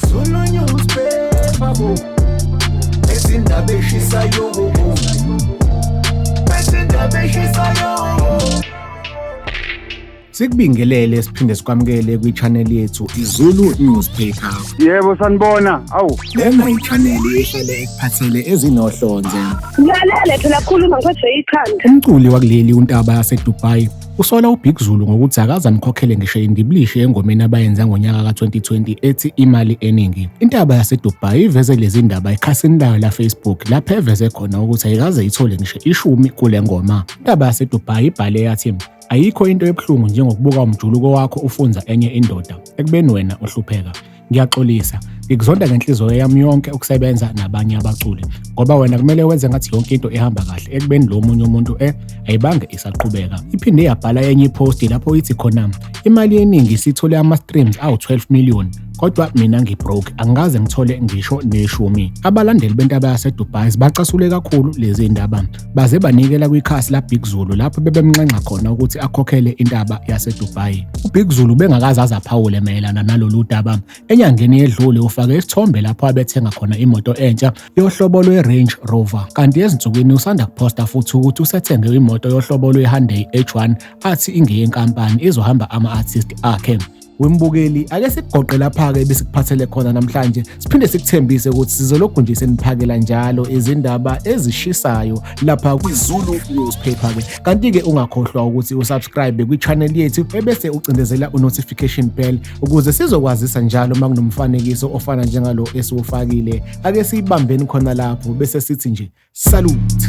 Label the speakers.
Speaker 1: Zulu newspaper bo Ezindaba eshisayo bo Ezindaba eshisayo Sikubingelele siphinde sikwamukele kwi-channel yethu iZulu Newspaper. Yebo sanibona.
Speaker 2: Awu. Lena i-channel
Speaker 1: ehlele ekuphathele ezinohlonze. Ngilalele
Speaker 3: phela khuluma ngiphathwe ikhanda. Umculi wakuleli
Speaker 1: uNtaba yaseDubai Usola uBig Zulu ngokuthi akazamkhokhele ngisho indiblishi engomeni abayenza ngonyaka ka-2020 ethi imali eningi. Intaba yaseDubai iveze lezi ndaba ekhasini layo laFacebook lapho eveze khona ukuthi ayikaze ithole ngisho ishumi kule ngoma. Intaba yaseDubai ibhale yathi ayikho into ebuhlungu njengokubuka umjuluko wakho ufunza enye indoda ekubeni wena uhlupheka. ngiyaxolisa ngikuzonda ngenhliziyo yami yonke ukusebenza nabanye abaculi ngoba wena kumele wenze ngathi yonke into ihamba kahle ekubeni lo munye umuntu e ayibange isaqhubeka iphinde yabhala enye iposti lapho ithi khona imali eningi sithole ama-streams awu-12 million kodwa mina ngibroke angikaze ngithole ngisho neshumi abalandeli bentaba yasedubai bacasule kakhulu lezi ndaba baze banikela kwikhasi laBig Zulu lapho bebemnxenxa khona ukuthi akhokhele intaba yaseDubai. UBig Zulu bengakaze azaphawule mayelana nalolu daba. Enyangeni yedlule ufake isithombe lapho abethenga khona imoto entsha yohlobo lwe-Range Rover. Kanti ezinsukwini usanda kuphosta futhi ukuthi usethenge imoto yohlobo lwe-Hyundai H1 athi ingeyenkampani izohamba ama-artist akhe. Wembukeli ake sikugoqe lapha ke besikuphathele khona namhlanje siphinde sikuthembise ukuthi sizoloku nje seniphakela njalo izindaba ezishisayo lapha kwiZulu newspaper ke kanti ke ungakhohlwa ukuthi usubscribe kwichannel yethu ebese ucindezela unotification bell ukuze sizokwazisa njalo makunomfanekiso ofana njengalo esiwufakile ake siyibambeni khona lapho bese sithi nje salute